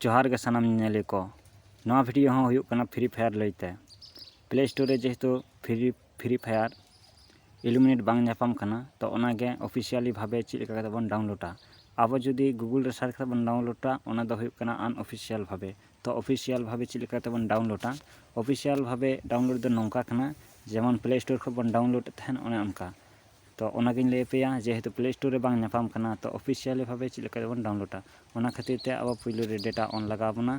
ᱡᱚᱦᱟᱨ ᱜᱮ ᱥᱟᱱᱟᱢ ᱧᱮᱧᱮᱞᱤᱭᱟᱹ ᱠᱚ ᱱᱚᱣᱟ ᱵᱷᱤᱰᱤᱭᱳ ᱦᱚᱸ ᱦᱩᱭᱩᱜ ᱠᱟᱱᱟ ᱯᱷᱨᱤ ᱯᱷᱟᱭᱟᱨ ᱞᱟᱹᱭᱛᱮ ᱯᱞᱮ ᱥᱴᱳᱨ ᱨᱮ ᱡᱮᱦᱮᱛᱩ ᱯᱷᱨᱤ ᱯᱷᱨᱤ ᱯᱷᱟᱭᱟᱨ ᱮᱞᱤᱢᱤᱱᱮᱴ ᱵᱟᱝ ᱧᱟᱯᱟᱢ ᱠᱟᱱᱟ ᱛᱚ ᱚᱱᱟᱜᱮ ᱚᱯᱷᱤᱥᱤᱭᱟᱞᱤ ᱵᱷᱟᱵᱮ ᱪᱮᱫ ᱞᱮᱠᱟ ᱠᱟᱛᱮᱫ ᱵᱚᱱ ᱰᱟᱣᱩᱱᱞᱳᱰᱟ ᱟᱵᱚ ᱡᱩᱫᱤ ᱜᱩᱜᱩᱞ ᱨᱮ ᱥᱟᱨᱪ ᱠᱟᱛᱮᱫ ᱵᱚᱱ ᱰᱟᱣᱩᱱᱞᱳᱰᱟ ᱚᱱᱟ ᱫᱚ ᱦᱩᱭᱩᱜ ᱠᱟᱱᱟ ᱟᱱᱚᱯᱷᱤᱥᱤᱭᱟᱞ ᱵᱷᱟᱵᱮ ᱛᱚ ᱚᱯᱷᱤᱥᱤᱭᱟᱞ ᱵᱷᱟᱵᱮ ᱪᱮᱫ ᱞᱮᱠᱟ ᱠᱟᱛᱮᱫ ᱵᱚᱱ ᱰᱟᱣᱩᱱᱞᱳᱰᱟ ᱚᱯᱷᱤᱥᱤᱭᱟᱞ ᱵᱷᱟᱵᱮ ᱰᱟᱣᱩᱱᱞᱳᱰ ᱫᱚ ᱱᱚᱝᱠᱟ ᱠᱟᱱᱟ ᱡᱮᱢᱚᱱ ᱯᱞᱮ ᱥᱴᱳᱨ ᱠᱷᱚᱱ ᱵᱚᱱ ᱰᱟᱣᱩᱱᱞᱳᱰ ᱮᱫ ᱛᱟᱦᱮᱱ ᱚᱱᱮ ᱚᱱᱠᱟ ᱛᱚ ᱚᱱᱟᱜᱤᱧ ᱞᱟᱹᱭ ᱟᱯᱮᱭᱟ ᱡᱮᱦᱮᱛᱩ ᱯᱞᱮ ᱥᱴᱳᱨ ᱨᱮ ᱵᱟᱝ ᱧᱟᱯᱟᱢ ᱠᱟᱱᱟ ᱛᱚ ᱚᱯᱷᱤᱥᱤᱭᱟᱞᱤ ᱵᱷᱟᱵᱮ ᱪᱮᱫ ᱞᱮᱠᱟ ᱛᱮᱵᱚᱱ ᱰᱟᱣᱩᱱᱞᱳᱰᱟ ᱚᱱᱟ ᱠᱷᱟᱹᱛᱤᱨ ᱛᱮ ᱟᱵᱚ ᱯᱳᱭᱞᱳ ᱨᱮ ᱰᱮᱴᱟ ᱚᱱ ᱞᱟᱜᱟᱣ ᱵᱚᱱᱟ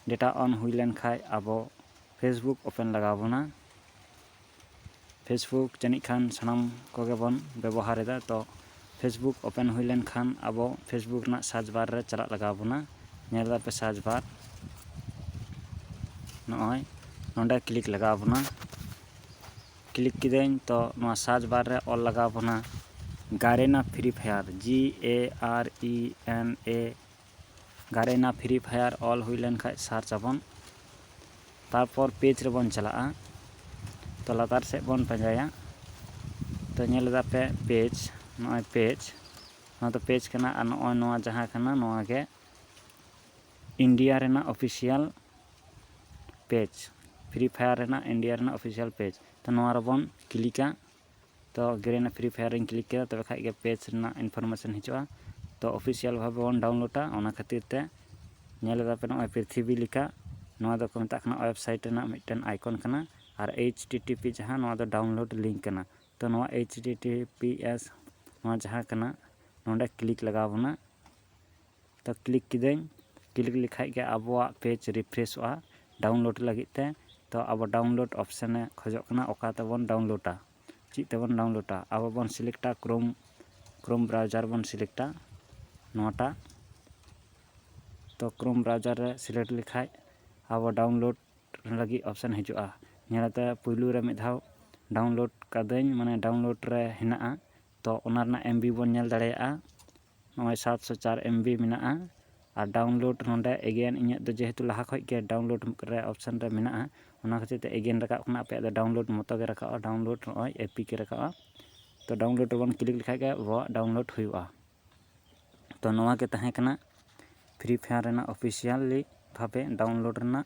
ᱰᱮᱴᱟ ᱚᱱ ᱦᱩᱭ ᱞᱮᱱᱠᱷᱟᱡ ᱟᱵᱚ ᱯᱷᱮᱥᱵᱩᱠ ᱳᱯᱮᱱ ᱞᱟᱜᱟᱣ ᱵᱚᱱᱟ ᱯᱷᱮᱥᱵᱩᱠ ᱡᱟᱹᱱᱤᱡ ᱠᱷᱟᱱ ᱥᱟᱱᱟᱢ ᱠᱚᱜᱮ ᱵᱚᱱ ᱵᱮᱵᱚᱦᱟᱨ ᱮᱫᱟ ᱛᱚ ᱯᱷᱮᱥᱵᱩᱠ ᱳᱯᱮᱱ ᱦᱩᱭ ᱞᱮᱱᱠᱷᱟᱱ ᱟᱵᱚ ᱯᱷᱮᱥᱵᱩᱠ ᱨᱮᱱᱟᱜ ᱥᱟᱨᱪ ᱵᱟᱨ ᱨᱮ ᱪᱟᱞᱟᱜ ᱞᱟᱜᱟᱣ ᱵᱚᱱᱟ ᱧᱮᱞ ᱫᱟᱯᱮ ᱥᱟᱨᱪ ᱵᱟᱨ ᱱᱚᱜᱼᱚᱭ ᱱᱚᱰᱮ ᱠᱞᱤᱠ ᱞᱟᱜᱟᱣ ᱵᱚᱱᱟ ᱠᱞᱤᱠ ᱠᱤᱫᱟᱹᱧ ᱛᱚ ᱱᱚᱣᱟ ᱥᱟᱨᱪ ᱵᱟᱨ ᱨᱮ ᱚᱞ ᱞᱟᱜᱟᱣ ᱵᱚᱱᱟ Garena Free Fire G A R E N A Garena Free Fire ᱚᱞ ᱦᱩᱭ ᱞᱮᱱ ᱠᱷᱟᱱ ᱥᱟᱨᱪ ᱟᱵᱚᱱ ᱛᱟᱨᱯᱚᱨ ᱯᱮᱡᱽ ᱨᱮᱵᱚᱱ ᱪᱟᱞᱟᱜᱼᱟ ᱛᱚ ᱞᱟᱛᱟᱨ ᱥᱮᱫ ᱵᱚᱱ ᱯᱟᱸᱡᱟᱭᱟ ᱛᱚ ᱧᱮᱞ ᱮᱫᱟ ᱯᱮ ᱯᱮᱡᱽ ᱱᱚᱜᱼᱚᱭ ᱯᱮᱡᱽ ᱱᱚᱣᱟ ᱫᱚ ᱯᱮᱡᱽ ᱠᱟᱱᱟ ᱟᱨ ᱱᱚᱜᱼᱚᱭ ᱱᱚᱣᱟ ᱡᱟᱦᱟᱸ ᱠᱟᱱᱟ ᱱᱚᱣᱟ ᱜᱮ ᱤᱱᱰᱤᱭᱟ ᱨᱮᱱᱟᱜ ᱚᱯᱷᱤᱥᱤᱭᱟᱞ ᱯᱮᱡᱽ ᱯᱷᱨᱤ ᱯᱷᱟᱭᱟᱨ ᱨᱮᱱᱟᱜ ᱤᱱᱰᱤᱭᱟ ᱨᱮᱱᱟᱜ ᱚᱯᱷᱤᱥᱤᱭᱟᱞ ᱯᱮᱡᱽ ᱛᱚ ᱱᱚᱣᱟ ᱨᱮᱵᱚᱱ ᱠᱞᱤᱠᱟ ᱛᱚ ᱜᱮᱨᱮᱱᱟ ᱯᱷᱨᱤ ᱯᱷᱟᱭᱟᱨ ᱨᱮᱧ ᱠᱞᱤᱠ ᱠᱮᱫᱟ ᱛᱚᱵᱮ ᱠᱷᱟᱱ ᱜᱮ ᱯᱮᱡᱽ ᱨᱮᱱᱟᱜ ᱤᱱᱯᱷᱳᱨᱢᱮᱥᱚᱱ ᱦᱤᱡᱩᱜᱼᱟ ᱛᱚ ᱚᱯᱷᱤᱥᱤᱭᱟᱞ ᱵᱷᱟᱵᱮ ᱵᱚᱱ ᱰᱟᱣᱩᱱᱞᱳᱰᱟ ᱚᱱᱟ ᱠᱷᱟᱹᱛᱤᱨ ᱛᱮ ᱧᱮᱞ ᱮᱫᱟ ᱯᱮ ᱱᱚᱜᱼᱚᱭ ᱯᱨᱤᱛᱷᱤᱵᱤ ᱞᱮᱠᱟ ᱱᱚᱣᱟ ᱫᱚᱠᱚ ᱢᱮᱛᱟᱜ ᱠᱟᱱᱟ ᱳᱭᱮᱵᱽᱥᱟᱭᱤᱴ ᱨᱮᱱᱟᱜ ᱢᱤᱫᱴᱮᱱ ᱟᱭᱠᱚᱱ ᱠᱟᱱᱟ ᱟᱨ ᱮᱭᱤᱪ ᱴᱤ ᱴᱤ ᱯᱤ ᱡᱟᱦᱟᱸ ᱱᱚᱣᱟ ᱫᱚ ᱰᱟᱣᱩᱱᱞᱳᱰ ᱞᱤᱝᱠ ᱠᱟᱱᱟ ᱛᱚ ᱱᱚᱣᱟ H T T P S ᱱᱚᱣᱟ ᱡᱟᱦᱟᱸ ᱠᱟᱱᱟ ᱱᱚᱰᱮ ᱠᱞᱤᱠ ᱞᱟᱜᱟᱣ ᱵᱚᱱᱟ ᱛᱚ ᱠᱞᱤᱠ ᱠᱤᱫᱟᱹᱧ ᱠᱞᱤᱠ ᱞᱮᱠᱷᱟᱡ ᱜᱮ ᱟᱵᱚᱣᱟᱜ ᱯᱮᱡᱽ ᱨᱤᱯᱷᱨᱮᱥᱚᱜᱼᱟ ᱰᱟᱣᱩᱱᱞᱳᱰ ᱞᱟᱹᱜᱤᱫ ᱛᱮ ᱛᱚ ᱟᱵᱚ ᱰᱟᱣᱩᱱᱞᱳᱰ ᱚᱯᱷᱥᱮᱱᱮ ᱠᱷᱚᱡᱚᱜ ᱠᱟᱱᱟ ᱚᱠᱟ ᱛᱮᱵᱚᱱ ᱰᱟᱣᱩᱱᱞᱳᱰᱟ ᱪᱮᱫ ᱛᱮᱵᱚᱱ ᱰᱟᱣᱩᱱᱞᱳᱰᱟ ᱟᱵᱚ ᱵᱚᱱ ᱥᱤᱞᱮᱠᱴᱟ ᱠᱨᱳᱢ ᱠᱨᱳᱢ ᱵᱨᱟᱣᱡᱟᱨ ᱵᱚᱱ ᱥᱤᱞᱮᱠᱴᱟ ᱱᱚᱣᱟᱴᱟᱜ ᱛᱚ ᱠᱨᱳᱢ ᱵᱨᱟᱣᱡᱟᱨ ᱨᱮ ᱥᱤᱞᱮᱠᱴ ᱞᱮᱠᱷᱟᱡ ᱟᱵᱚ ᱰᱟᱣᱩᱱᱞᱳᱰ ᱞᱟᱹᱜᱤᱫ ᱚᱯᱷᱥᱮᱱ ᱦᱤᱡᱩᱜᱼᱟ ᱧᱮᱞ ᱠᱟᱛᱮ ᱯᱳᱭᱞᱳ ᱨᱮ ᱢᱤᱫ ᱫᱷᱟᱣ ᱰᱟᱣᱩᱱᱞᱳᱰ ᱠᱟᱹᱫᱟᱹᱧ ᱢᱟᱱᱮ ᱰᱟᱣᱩᱱᱞᱳᱰ ᱨᱮ ᱦᱮᱱᱟᱜᱼᱟ ᱛᱚ ᱚᱱᱟ ᱨᱮᱱᱟᱜ ᱮᱢ ᱵᱤ ᱵᱚᱱ ᱧᱮᱞ ᱫᱟᱲᱮᱭᱟᱜᱼᱟ ᱱᱚᱜᱼᱚᱭ ᱥᱟᱛᱥᱚ ᱪᱟᱨ ᱮᱢᱵᱤ ᱢᱮᱱᱟᱜᱼᱟ ᱟᱨ ᱰᱟᱣᱩᱱᱞᱳᱰ ᱱᱚᱸᱰᱮ ᱮᱜᱮᱱ ᱤᱧᱟᱹᱜ ᱫᱚ ᱡᱮᱦᱮᱛᱩ ᱞᱟᱦᱟ ᱠᱷᱚᱱ ᱜᱮ ᱰᱟᱣᱩᱱᱞᱳᱰ ᱨᱮ ᱚᱯᱷᱥᱮᱱ ᱨᱮ ᱢᱮᱱᱟᱜᱼᱟ ᱚᱱᱟ ᱠᱷᱟᱹᱛᱤᱨ ᱛᱮ ᱮᱜᱮᱱ ᱨᱟᱠᱟᱵ ᱠᱟᱱᱟ ᱟᱯᱮᱭᱟᱜ ᱫᱚ ᱰᱟᱣᱩᱱᱞᱳᱰ ᱢᱚᱛᱚ ᱜᱮ ᱨᱟᱠᱟᱵᱼᱟ ᱰᱟᱣᱩᱱᱞᱳᱰ ᱱᱚᱜᱼᱚᱭ ᱮᱯᱤᱠᱮ ᱨᱟᱠᱟᱵᱼᱟ ᱛᱚ ᱰᱟᱣᱩᱱᱞᱳᱰ ᱨᱮᱵᱚᱱ ᱠᱞᱤᱠ ᱞᱮᱠᱷᱟᱱ ᱜᱮ ᱟᱵᱚᱣᱟᱜ ᱰᱟᱣᱩᱱᱞᱳᱰ ᱦᱩᱭᱩᱜᱼᱟ ᱛᱚ ᱱᱚᱣᱟ ᱜᱮ ᱛᱟᱦᱮᱸ ᱠᱟᱱᱟ ᱯᱷᱨᱤ ᱯᱷᱟᱭᱟᱨ ᱨᱮᱱᱟᱜ ᱚᱯᱷᱤᱥᱤᱭᱟᱞᱤ ᱵᱷᱟᱵᱮ ᱰᱟᱣᱩᱱᱞᱳᱰ ᱨᱮᱱᱟᱜ